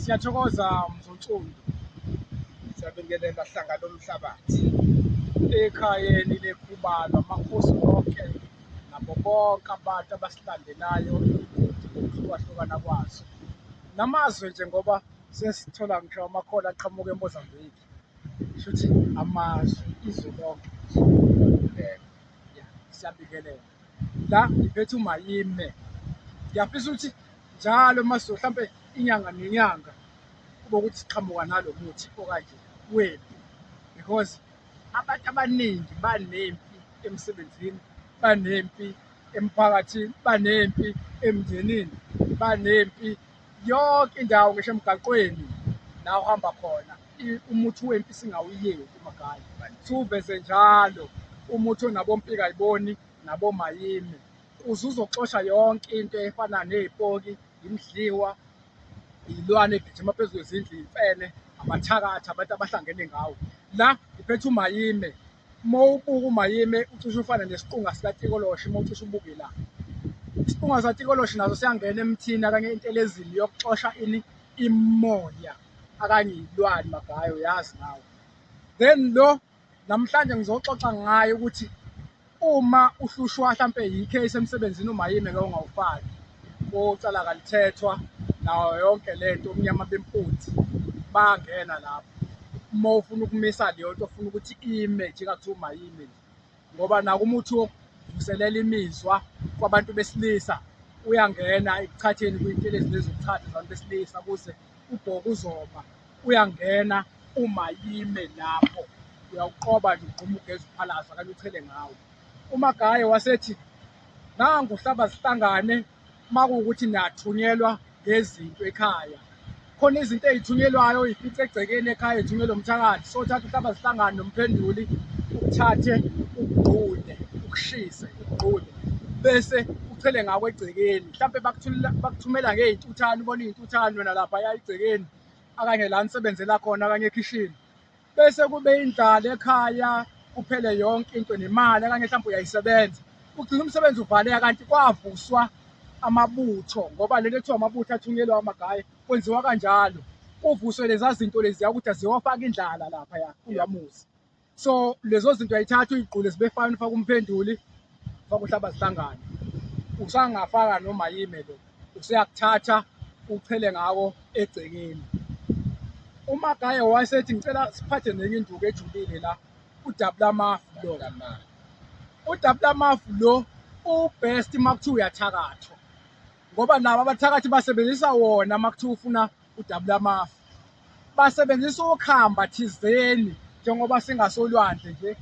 Siyathokoza Mzontsundu, siyabingelela hlanga lomhlabathi ekhayeni lekhubalo amakhosi wonke nabo bonke abantu abasilandelayo ngokuhlukahlukana kwazo namazwe nje ngoba sesithola ngisho amakhola aqhamuka eMozambique shuthi amazwe izwe lonke siyabingelela la ngiphethe umayime ngiyafisa ukuthi njalo maso mhlampe inyanga nenyanga kube ukuthi siqhamuka nalo muthi okanje wempi because abantu abaningi banempi emsebenzini banempi emphakathini banempi emndenini banempi yonke indawo ngisho emgaqweni la uhamba khona umuthi wempi singawuyeki umagali siwuveze njalo umuthi onabompika yiboni nabomayimi uze uzoxosha yonke into efana nezipoki imidliwa iyilwane egijima phezu kwezindlu imfene amathakathi abantu abahlangene ngawo la ngiphethe umayime Uma ubuka uMayime ucishe ufane nesiqunga sikaTikoloshi uma ucishe ubuke la. Isiqunga sikaTikoloshi naso siyangena emthini akanye entelezini yokuxosha ini imoya akanye yilwane magayo yazi nawe. Then lo namhlanje ngizoxoxa ngayo ukuthi uma uhlushwa hlampe yi-case emsebenzini uMayime ke ungawufaki. kucala kalithethwa nawo yonke le nto umnyama bempunzi bangena lapho uma ufuna ukumisa leyo nto ofuna ukuthi ime nje kathiwa umayime nje ngoba naku umuthi wokuvuselela imizwa kwabantu besilisa uyangena ekuchatheni kwintelezi lezi zokuchatha zabantu besilisa kuze ubhoka uzoba uyangena uma yime lapho uyawuqoba nje ugquma ugeza uphalaza kanye uchele ngawo umagaye wasethi nangu hlaba sihlangane makuwukuthi niyathunyelwa ngezinto ekhaya khona izinto ezithunyelwayo ifithi egcekeni ekhaya ethunyelwe umthakathi so thatha uhlaba sihlangane nomphenduli uthathe ukugqune ukushise ukugqune bese uthele ngako egcekeni mhlawumbe bakuthumela ngey'ntuthane ubona iy'ntuthane wena lapha ya egcekeni akanye la nisebenzela khona akanye ekhishini bese kube indlala ekhaya kuphele yonke into nemali okanye mhlawumbe uyayisebenza ugcina umsebenzi uvaleka kanti kwavuswa amabutho ngoba lento ekuthiwa amabutho athunyelwa amagaye kwenziwa kanjalo kuvuswe leza zinto leziya ukuthi aziyofaka indlala lapha ya kuyamuzi so lezo zinto ayithatha uyigqule zibefana ufaka umphenduli bakuthi abazihlangane usangafaka noma yime lo useyakuthatha uchele ngawo egcekeni uma gaye wayesethi ngicela siphathe nenye induku ejulile la udabula amafu lo udabula amafu lo ubest uma kuthiwa uyathakathwa ngoba laba abathakathi basebenzisa wona uma kuthiwa ufuna udabula amafu basebenzisa ukhamba thizeni njengoba singasolwandle nje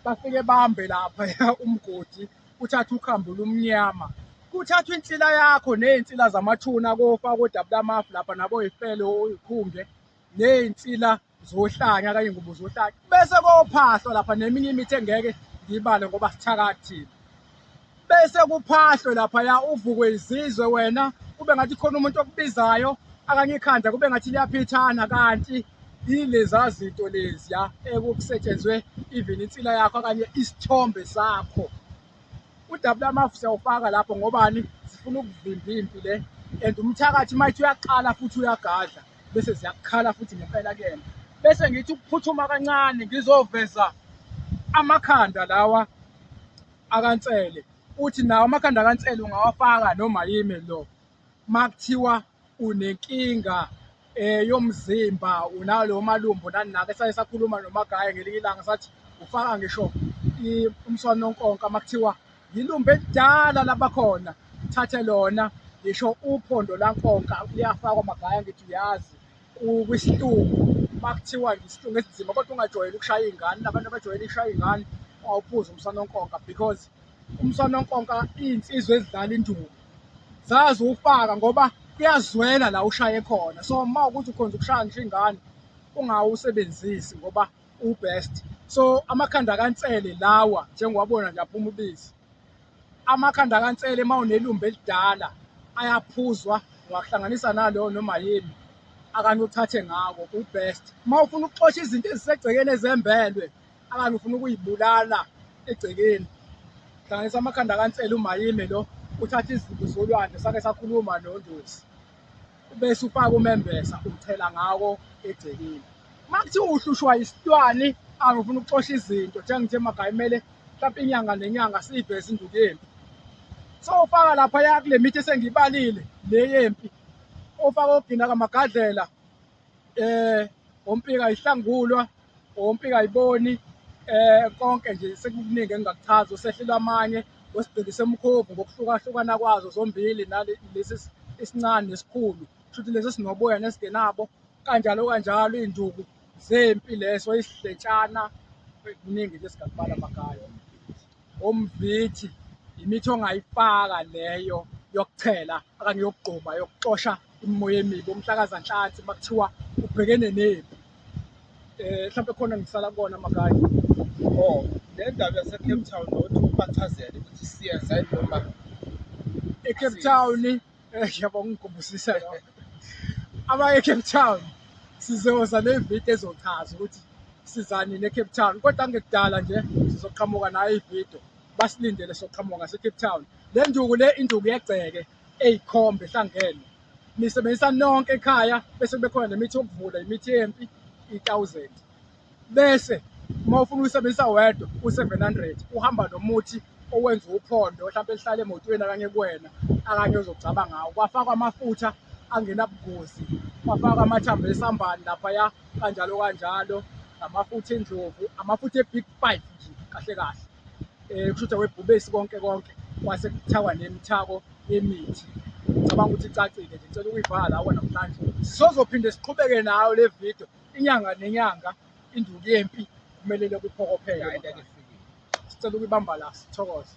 bafike bambe lapha umgodi kuthatha ukhambo lumnyama kuthathwa insila yakho nezinsila zamathuna kofa kodabula amafu lapha nabo yifele oyikhumbe nezinsila zohlanya kanye ngubo zohlanya bese kophahlwa lapha neminye imithi engeke ngibale ngoba sithakathile bese kuphahlwe lapha ya uvukwe izizwe wena kube ngathi khona umuntu okubizayo akanye ikhanda kube ngathi liyaphithana kanti yileza zinto leziya ekukusetshenzwe even insila yakho kanye isithombe sakho udabula amafu siyawufaka lapho ngobani sifuna ukuvimba impi le and umthakathi mayithi uyaqala futhi uyagadla bese ziyakhala futhi ngempela kuyena bese ngithi ukuphuthuma kancane ngizoveza amakhanda lawa akansele uthi nawo amakhanda akansele ungawafaka noma yimi lo makuthiwa unenkinga eh yomzimba unawo lo malumbo nani nake saye sakhuluma nomagaya ngelinye ilanga sathi ufaka ngisho umswanonkonka makuthiwa Yilumbe elidala labakhona thathe lona ngisho uphondo lankonka liyafakwa magaya ngithi uyazi kwisilungu uma kuthiwa ngisilungu esinzima kodwa ungajwayeli ukushaya iy'ngane nabantu abajwayele ishaya iy'ngane ungawuphuza umsanonkonka because umsanonkonka iy'nsizwa ezidlala induku zazi uwufaka ngoba kuyazwela la ushaye khona so uma ukuthi ukhonza ukushaya ngisho ingane ungawusebenzisi ngoba ubest so amakhanda kansele lawa njengowabona nje aphuma ubisi amakhanda kansele uma unelumbe elidala ayaphuzwa ungakuhlanganisa naloyo noma yini akanye uthathe ngako ubest uma ufuna ukuxosha izinto ezisegcekeni ezembelwe akanye ufuna ukuyibulala egcekeni hlanganisa amakhanda kansele umayime lo uthatha izinto zolwandle sake sakhuluma nondosi bese ufaka umembesa uthela ngawo egcekeni uma kuthiwa uhlushwa isitwani angifuna ukuxosha izinto njengithe emakhaya kumele mhlawumpe inyanga nenyanga siyiveze induku yempi so ufaka laphaya kule mithi esengiyibalile le yempi ofaka ogina kamagadlela um ompika ihlangulwa Ompi kayiboni eh konke nje sekukuningi engingakuchaza usehlile amanye wesigqikise umkhovu ngokuhlukahlukana kwazo zombili nalesi isincane nesikhulu shuthi lesi sinoboya nesingenabo kanjalo kanjalo izinduku zempi leso isidletshana kuningi nje singakubala amagaya umvithi imithi ongayifaka leyo yokuchela okanye yokugquma yokuxosha imimoya emibi umhlakazanhlansi makuthiwa ubhekene nempi eh mhlawumbe khona ngisala kona makanye oh le ndaba yasecape town nokuthi ubachazele ukuthi siyenza noma ecape town Eh, yabo ngikhumbusisa yona abaye ecape town sizoza nevidiyo ezochaza ukuthi sizani necape town kodwa ngekudala nje sizoqhamuka nayo ividiyo basilindele soqhamuka ngasecape town le nduku le induku yegceke eyikhombe ehlangene nisebenzisa nonke ekhaya bese kubekhona nemithi yokuvula imithi yempi i-thousand bese uma ufuna uyisebenzisa wedwa u-700 uhamba nomuthi owenza uphondo mhlawumbe elihlala emotweni akanye kuwena akanye ozogcaba ngawo kwafakwa amafutha angenabungozi kwafakwa amathambo esambani laphaya kanjalo kanjalo namafutha endlovu amafutha e-big five nje kahle kahle um kusho ukuthi awebhubesi konke konke kwase kuthakwa nemithako yemithi ngicabanga ukuthi icacile nje ngicela ukuyivala awona mhlanje sizozophinde siqhubeke nayo le video inyanga nenyanga induku yempi kumelele kuphokophelwe. Sicela ukuyibamba la sithokoze.